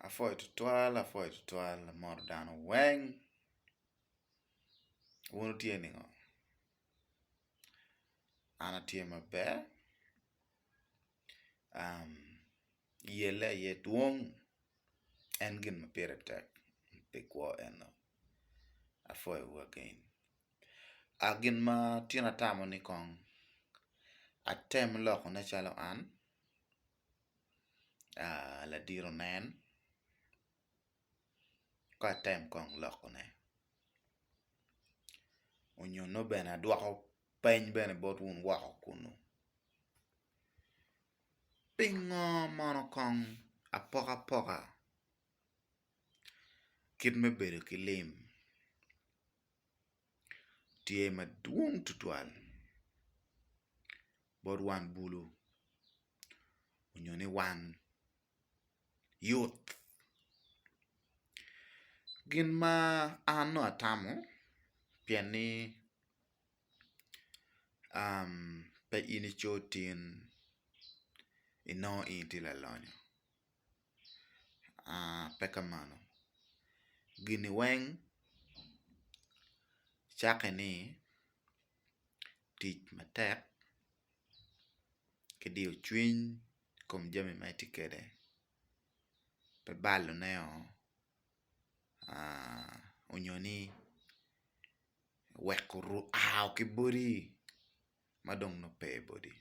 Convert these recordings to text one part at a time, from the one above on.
Apwoyo tutwal apwoyo tutwal amoto dano weng wun wutye ningo an atye maber yelle aye dwong en gin ma pire tek pi kwo eno apwoyowu again gin ma tyen atamo ni kong atem lokone calo an. ladit onen ka atem kong loko ne onyo nongo bene adwoko peny bene bot wun woko kunu pingo mono kong apoka poka kit me bedo ki lim tye madwong tutwal bot wang bulu nyo ni wang yut. Gin ma an nongo atamo pien ni pe in ico tin inongo in tye lalonyo pe ka mano gini weng cakke ni tic matek ki diyo cwiny i kom jami ma itye kwede pe balone nyo ni weko aa ki bodi ma dong nongo pe i bodi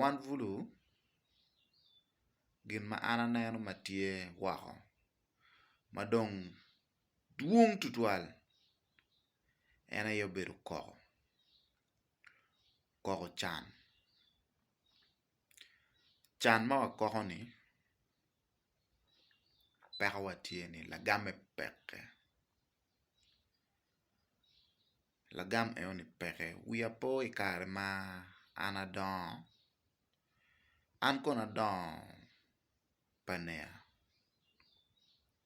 wan bulu gin ma an aneno ma tye woko ma dong dwong tutwal en aye obedo koko, koko can, can ma wakoko-ni pekowa tye ni lagame peke, lagam enoni peke wiya pe oye i kare ma an adongo an kono adongo pania.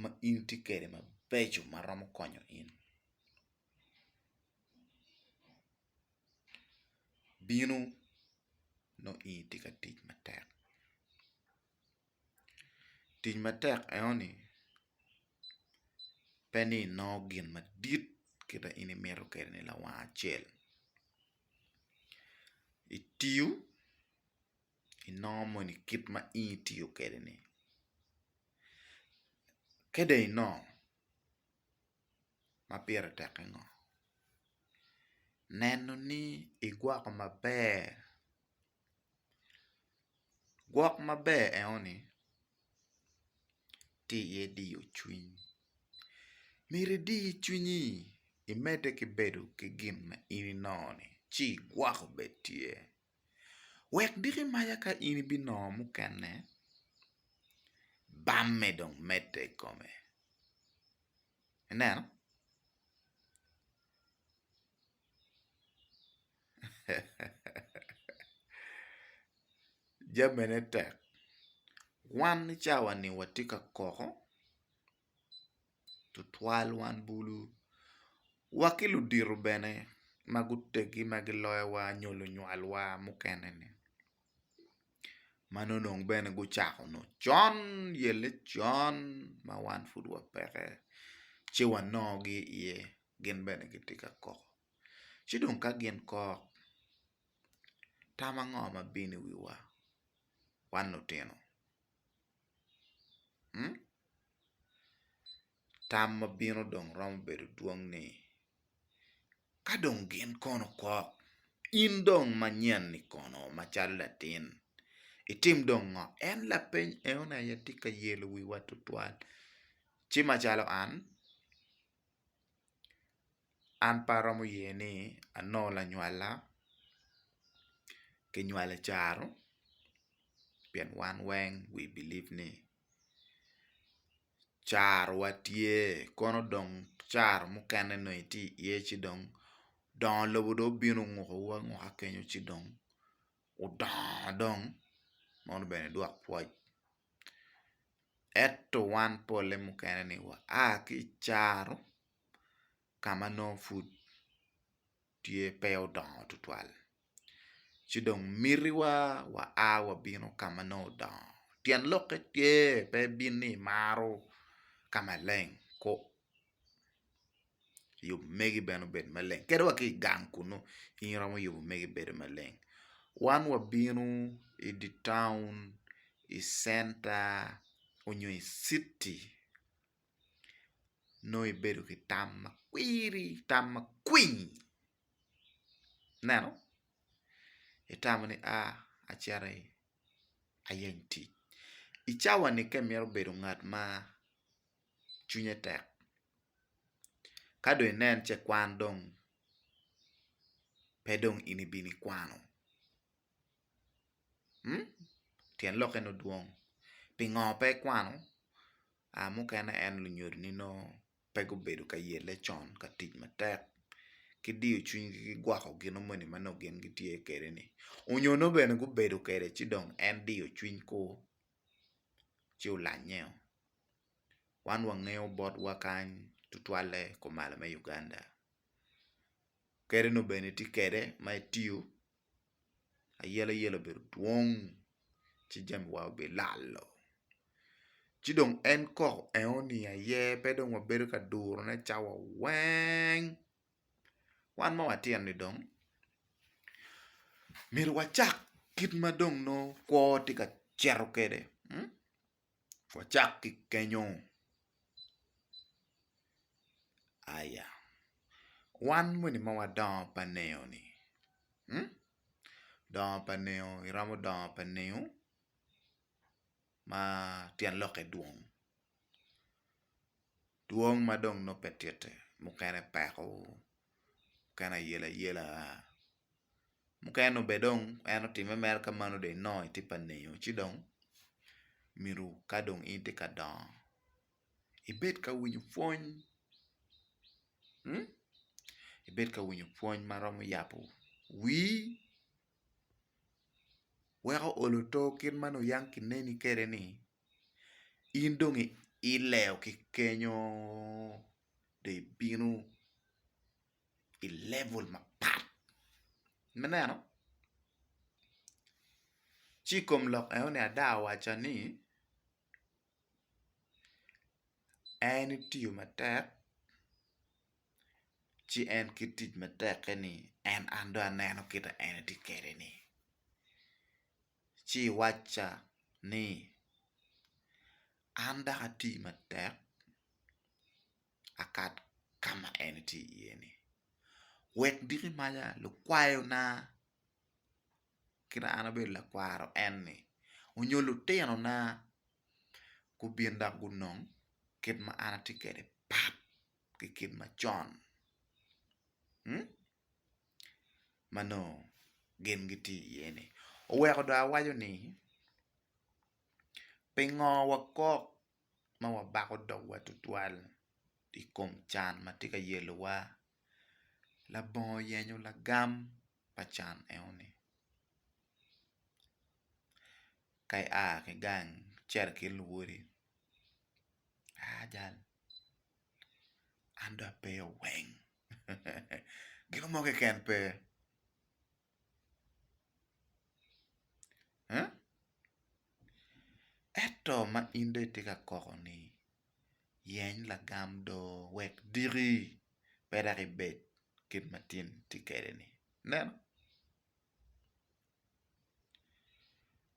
ma in tye kwede mabeco ma romo konyo in. Bino nongo in itye ka tic matek, tic matek enoni pe ni inongo gin madit kit ma in imito kwede ni lawang acel itiyo. inongo moni kit ma in itiyo kwede ni ka dong inongo ma pire teke ngo neno ni igwoko maber gwok maber eno ni tye iye diyo cwiny myero idi cwinyi imede ki bedo ki gin ma in inongo ni ci igwoko bene tye. Wek diki maca ka in ibinongo mukene, bamme dong medde i kome. Ineno? Jamine tek. Wan i cawani watye ka koko. tutwal wan bulu wa ki ludito bene ma guteggi ma giloyowa nyo lunywalwa mukene ni ma nongo dong bene gucako nongo con yelle con ma wan pud wapeke ci wanongogi iye gin bene gitye ka kok ci dong ka gin kok tam ango ma bino i wiwa wan lutino? tam ma bino dong romo bedo dwong ni ka dong gin kono kok in dong manyen ni kono macalo latin itim dong ngo? En lapeny eno ni aye tye ka yelo wiwa tutwal ci macalo an An pe aromo ye ni anongo lanywala ki nywali caro pien wan weng we believe ni caro wa tye kono dong caro mukene nongo itye i ye ci dong dongo lobo dong obino onguko wu anguka kenyo ci dong wudongo dong meno bene dwok pwoc. Ento wan pole mukene ni wa a ki i caro ka ma nongo pud tye pe odongo tutwal ci dong mitiwa waa wabino ka ma nongo odongo tyen lokke tye pe ibin ni imaro ka maleng. Yub megi bene obed maleng kadi wa ki i gang kunu in iromo yubo megi bedo maleng wan wabino i dye taun i centa nyo i citi nongo ibedo ki tam ma kwiri tam ma kwiny ineno itamo ni a acito ayeny tic i cawa ni ka imito bedo ngat ma cwinye tek ka dong inen ce kwan dong pe dong in ibino ikwano mm tyen lokke ni odwong pingo pe ikwano? mukene en lunyodini nongo pe gubedo ka yelle con ka tic matek ki diyo cwinygi ki gwoko gino moni ma nongo gin gitye kwede-ni nyo nongo bene gubedo kwede ci dong en diyo cwinygu ci olannyeo. wan wangeyo botwa kany tutwalle kumalo me Uganda kadi nongo bene itye kwede ma itiyo ayeleyele obedo dwong ci jamiwa bilalo ci dong en kok enoni aye pe dong wabedo ka durone cawa weng wan ma watito-ni dong myero wacak kit ma dong nongo kwo tye ka cito kwede. Wacak ki kenyo aya, wan moni ma wadongo pa nino ni dongo pa nino iromo dongo pa nino ma tyen lokke dwong. Dwong ma dong nongo pe titte, mukene peko, mukene ayelayela, mukene nongo bene dong en otimme mere ka mano dong inongo itye pa nino ci dong myero ka dong in itye ka dongo ibed ka winyo pwony ibed ka winyo pwony ma romo yabo wii weko olo oto kit ma nongo yam kineni kwede-ni. in dong ileo ki kenyo dong ibino i level mapat me neno ci i kom lok enoni ada awaca ni en itiyo matek ci en ki tic mateke ni en an dong aneno kit ma en tye kwede ni. ci iwacca ni, 'An dok ati matek akat ka ma en itye iye-ni. Wek diki maca lukwayona kit ma an abedo lakwaro en-ni nyo lutinona gubin dok gunong kit ma an atye kwede pat ki kit macon. ma nongo gin gitye iye-ni. Oweko dong awaco ni pingo wakok ma wabako dogwa tutwal i kom can ma tye ka yelowa? Labongo oyenyo lagam pa can enoni. Ka ia ki gang icito i kin luwodi, aa jal, an dong ape oweng. gino mo keken pe ento ma in dong itye ka koko ni yeny lagam do wek diki pe dok ibed kit ma tin itye kwede ni ineno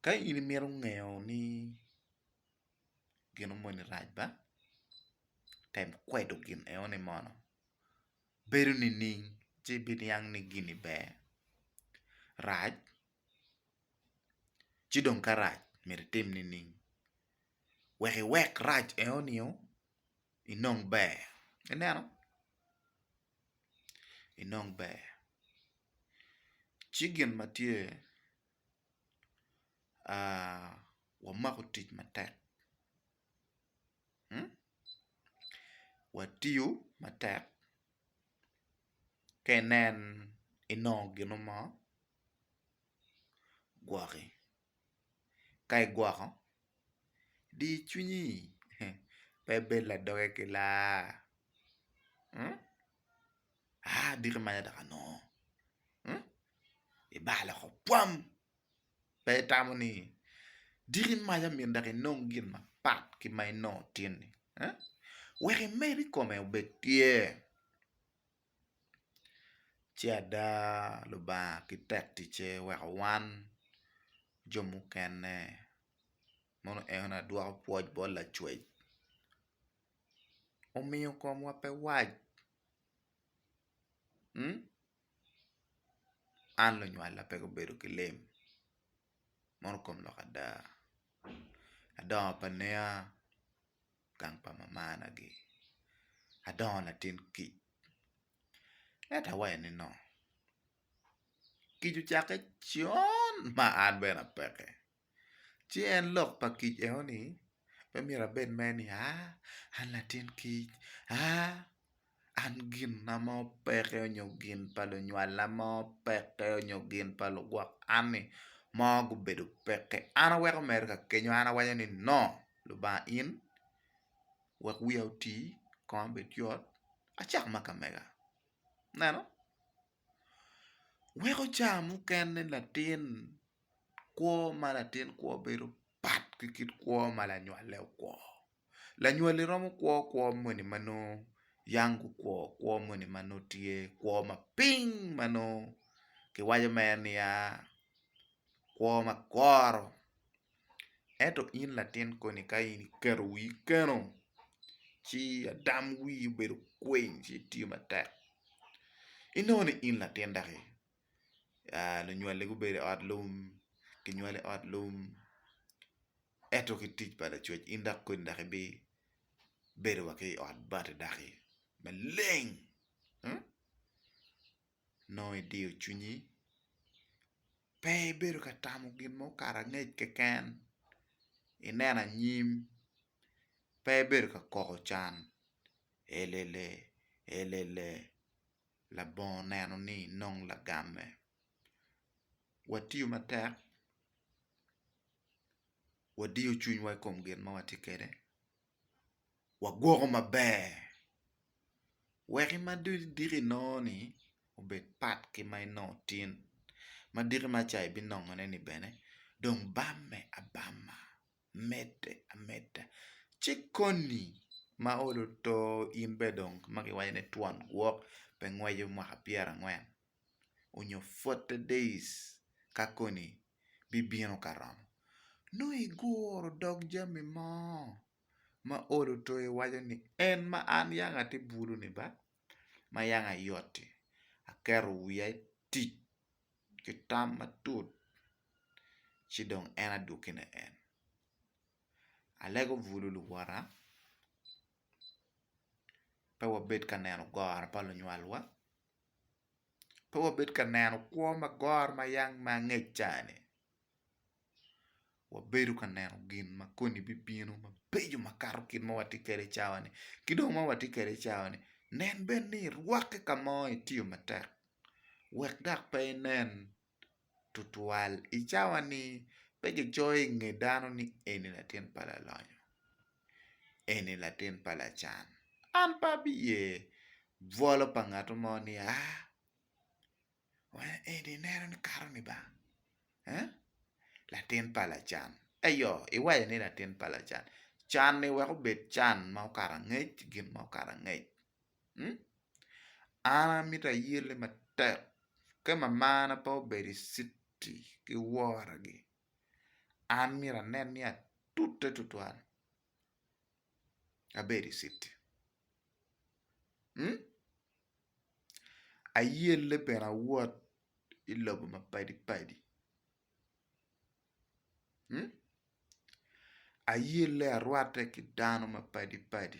ka in imito ngeyo ni gino moni rac ba tem kwedo gin eno ni mono bedo nining ci ibiniang ni gini ber rac ci dong ka rac myero itim nining wek iwek rac eno nio inong ber ineno inong ber ci gin ma tye wamako tic matek, watiyo matek ka inen inongo gino mo gwoki ka igwoko di cwinyi pe bed ladoge ki laa. aa abito imanya dok anongo ibal oko pwam pe itamo ni diki imanya myero dok inong gin mapat ki ma inongo tin ni wek imed ikome obed tye ci ada Lubanga ki tek ticce oweko wan jo mukene mono en adwoko pwoc bot Lacwec. omiyo komwa pe wac an lunywala pe gubedo ki lem mono kom lok ada adongo pa nea gang pa mamana gi adongo latin kic ento awaco ni no kic ocake con ma an bene apeke. Ci en lok pa kic eno ni pe myero abed ma en ni aa an latin kic aa an gin na mo peke nyo gin pa lunywala mo peke nyo gin pa lugwok an ni mo gubedo peke an aweko mere ka kenyo an awaco ni no Lubanga in wek wiya oti konga bed yot acak ma ka mega ineno. Weko ca mukene latin kwo ma latin kwo bedo pat ki kit kwo ma lanywale okwo. Lanywali romo kwo kwo moni ma nongo yang gukwo, kwo moni ma nongo tye kwo ma piny ma nongo kiwaco mere niya kwo ma goro Ento in latin koni ka in iketo wii keno ci adam wii obedo kwiny ci itiyo matek inongo ni in latin dok i lunywali gubedo i ot lum kinywali i ot lum ento ki tic pa Lacwec in dok koni dok ibibedo wa ki i ot bati daki maleng. nongo idiyo cwinyi pe ibedo ka tamo gin mo kara angec keken ineno anyim pe ibedo ka koko can elele elele labongo oneno ni inong lagamme watiyo matek wadiyo cwinywa i kom gin ma watye kwede. wagwoko maber wek ma idiko inongo ni obed pat ki ma inongo tin ma diki ma ca ibinongo ne ni bene dong bamme abama medde ameda ci koni ma olo to in bene dong ma giwaco ni twon gwok pe ngweco mwaka pyerangwen onyo forty days ka koni bibino ka romo. Nongo iguro dog jami mo ma olo to iwaco ni, 'En ma an yam atye buloni ba, ma yam ayot-ti, aketo wiya i tic ki tam matut, ci dong en adwoki ne en. Alego bulu luwota, pe wabed ka neno goro pa lunywalwa. pe wabed ka neno kwo ma goro ma yam ma angec cani, wabedo ka neno gin ma koni bibino mabeco makato kit ma watye kwede i cawani ki dong ma watye kwede i cawani nen bene ni irwatte ka mo itiyo matek wek dok pe inen tutwal i cawa-ni pe kicoyo i nge dano ni eni latin pa lalonyo, eni latin pa lacan. An pe abiye bwolo pa ngat mo ni aa, wena eni ineno ni kato ni ba? Aa? Latin pa lacan, eyo iwaco ni latin pa lacan, can-ni wek obed can ma okato angec, gin ma okato angec. An amito ayelle matek ka mamana pe obedo i citi ki woragi an myero anen ni atute tutwal abedo i citi. Ayelle bene awot i lobo mapadi padi, ayelle arwatte ki dano mapadi padi.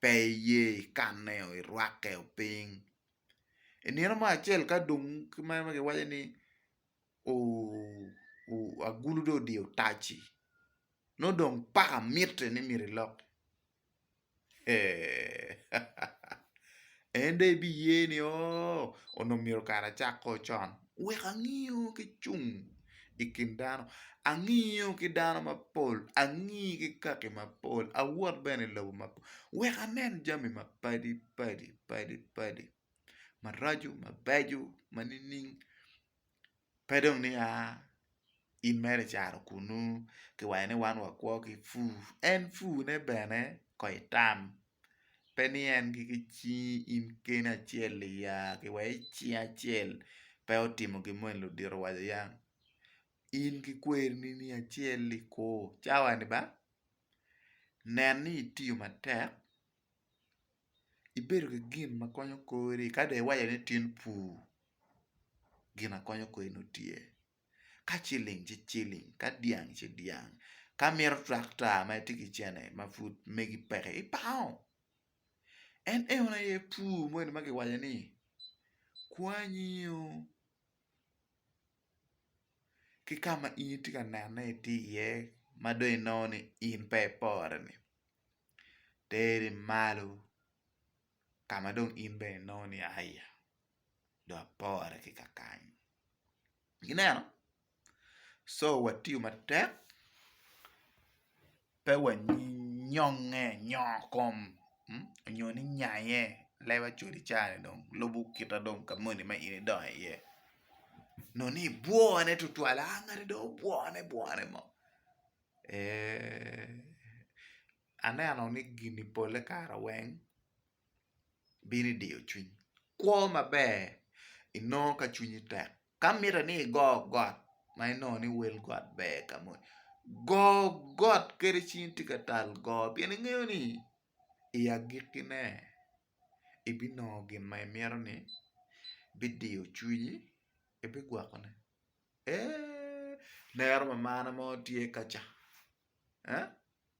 pe iye ikanne oo irwakke oo piny i nino mo acel ka dong ma giwaco ni agulu dong odiyo taci nongo dong paka mitte ni myero ilok en dong ibiye ni oo onongo myero kara acak kong con. wek angiyo ki cung i kin dano, angiyo ki dano mapol, angi ki kaki mapol, awot bene i lobo mapol wek anen jami mapadi padi maraco mabeco ma nining pe dong ni aa in mere i caro kunu kiwaco ni wan wakwo ki pur en pur ne bene kong itam. pe ni en ki cingi in keni acel iya ki wa i cingi acel pe otimo gin moni ludito owaco iya in ki kwerini ni acel i kor cawa ni ba nen ni itiyo matek ibedo ki gin ma konyo kori ka dong iwaco ni tin pur gin ma konyo kori nongo tye. ka ciling ci ciling, ka dyang ci dyang, ka imito twakta ma itye ki cene ma pud megi peke ipango. En eno aye pur moni ma kiwaco ni kwanyi-ngu ki ka ma in itye ka nene itye iye ma dong inongo ni in pe iporeni teri malo ka ma dong in bene inongo ni aa iye. dong apore ki ka kany. Ineno? Co watiyo matek pe wanyongnge nyongo kom nyo ni nyaye lewa col i caa-ni dong lubo kita dong ka moni ma in idongo iye nongo ni ibwone tutwal a ngati dong obwone bwone mo ee aneno ni gini pole kare weng bino i diyo cwiny. Kwo maber inongo ka cwinyi tek. Ka mitte ni igo got ma inongo ni wel got ber ka moni, go got kadi cwinyi tye ka tal go pien ingeyo ni i agikkine ibinongo gin ma imito ni bidiyo cwinyi, ebigwokone. Eeh, lero mamana mo tye kaca.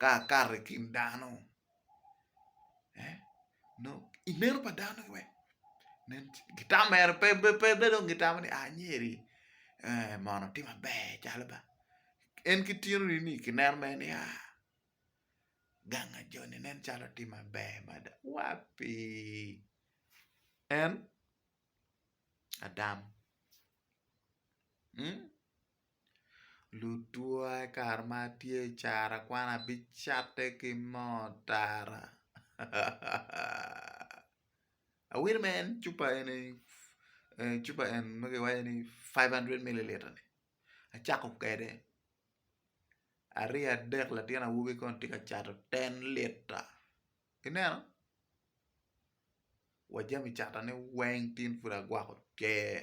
ka akato i kin dano nongo i meno pa dano ni weng nen calo gitamere pe dong gitamo ni anyeri mono otim maber calo ba en ki tino ni ni kineno mere ni ganga joni nen calo otim maber mada wapi en Adam. Lutwa i kare ma atye i cara kwan abicatte ki moo tara awinyo ma en cupa eni cupa en ma kiwaco ni five hundred mililita ni acako kwede arye adek latin awobi kono tye ka cato ten lita ineno wa jami catane weng tin pud agwoko tyer.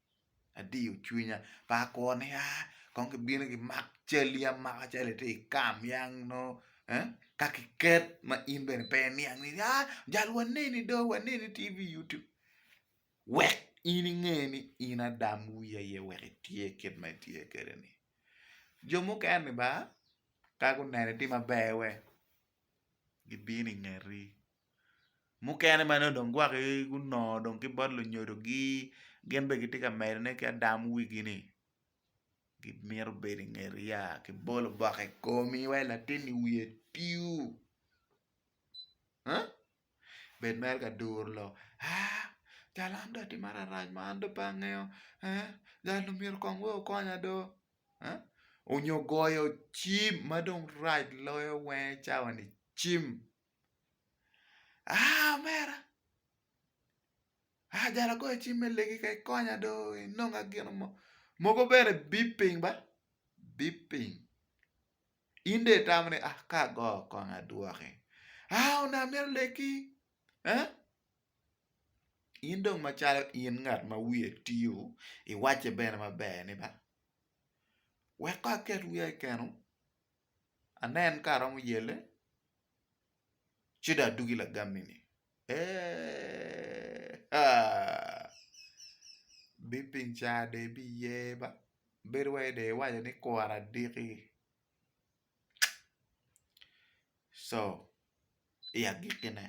adiyo cwinya pe akwo ni aa kong gibino gimak calli amaka calo itye i kam ya nongo eh ka kiket ma in bene pe iniang ni aa jal waneni do waneni tye i yutub wek in inge ni in adam wi aye wek itye kit ma itye kwede ni jo mukene ni ba ka guneno itye maber wek gibino i ngeti mukene ma nongo gwok gunongo ki bot lunyodo gi gin bene gitye ka medone ki adam wigi ni gimito bedo i ngeti ya ki bolo boko i komi wai latin i wiye tiu bed mere ka duru lok aa cal an do atimara rac ma an do pe angeyo gal omyero kong wai okonya do. onyo goyo cim ma dong rac loyo wenge cawa ni cim aa omera aa jalo agoyo cim me legi ka ikonya do inonga gin mo, mogo bene bip piny ba bip piny in dong itamo ni aa ka ago kong adwoki aa onongo amito leki. In dong macalo in ngat ma wiye tio, iwacce bene maber ni ba, wek kong aket wiya i keno, anen ka aromo yelle, ci dong adugi lagammi-ni. Eeee aa! Bipiny ca dong ibiye ba, bedo wai dong iwaco ni kwora adiki. Co i agikkine.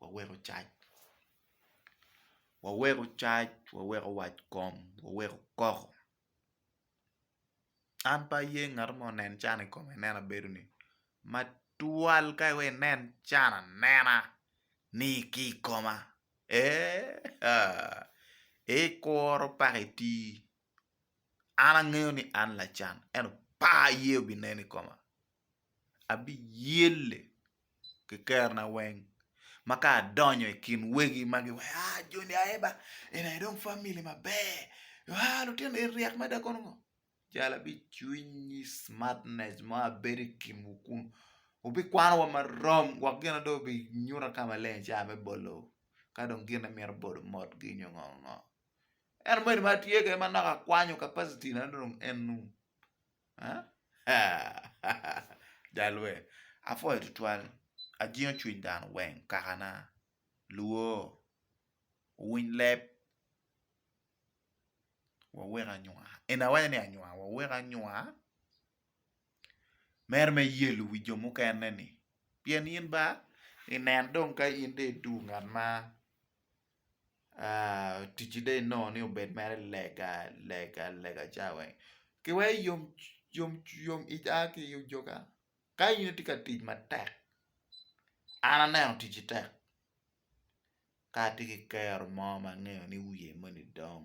waweko cac waweko cac waweko wac kom waweko koko an pe aye ngat ma onen can i kome anena bedo ni ma twal ka iweko inen can anena ni ki i koma eeh ikuro paka itii. an angeyo ni an lacan ento par ye obinen i koma abiyelle ki kerona weng ma ka adonyo i kin wegi ma giwaco ni aa joni aye ba eni aye dong famili maber aa lutino eni ryek mada kono ngo jalo abicwinyi smartness mo abedo i kinwu kunu wubikwano wa marom wek gin ma dong wubinyuta ka maleng ica me bolo ka dong gin ma imito bolo motgi nyo ngo ngongo En omoni ma tye kene ma naka akwanyo capacity na dong en nung. Jalwe, apwoyo tutwal. Ajingo cwiny dano weng kakana. Luo, wuwiny leb. Wawek anywa. Eni awaco ni anywa, wawek anywa. Mere me yelo wi jo mukene ni. Pien in ba inen dong ka in dong idwogo ngat ma. ticci dong inongo ni obed mere lega lega lega ca weng ki weko yom yom yom ic a ki i ojoga ka in itye ka tic matek an aneno ticci tek ka atye ki kero mo ma angeyo ni wiye moni dong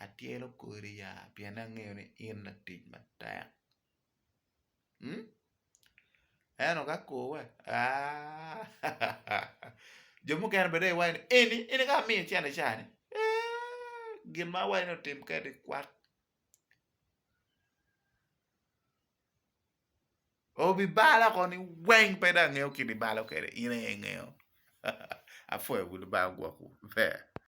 atyelo kodi ya pien angeyo ni in latic matek Ento ka kowa jo mukene bene dong giwaco ni eni ka amiyo cente cani gin ma awaco ni otim kene kwak obibalo oko ni weng pe dong angeyo gin ma ibalo kwede in aye ingeyo apwoyo bulu bal gwokwu.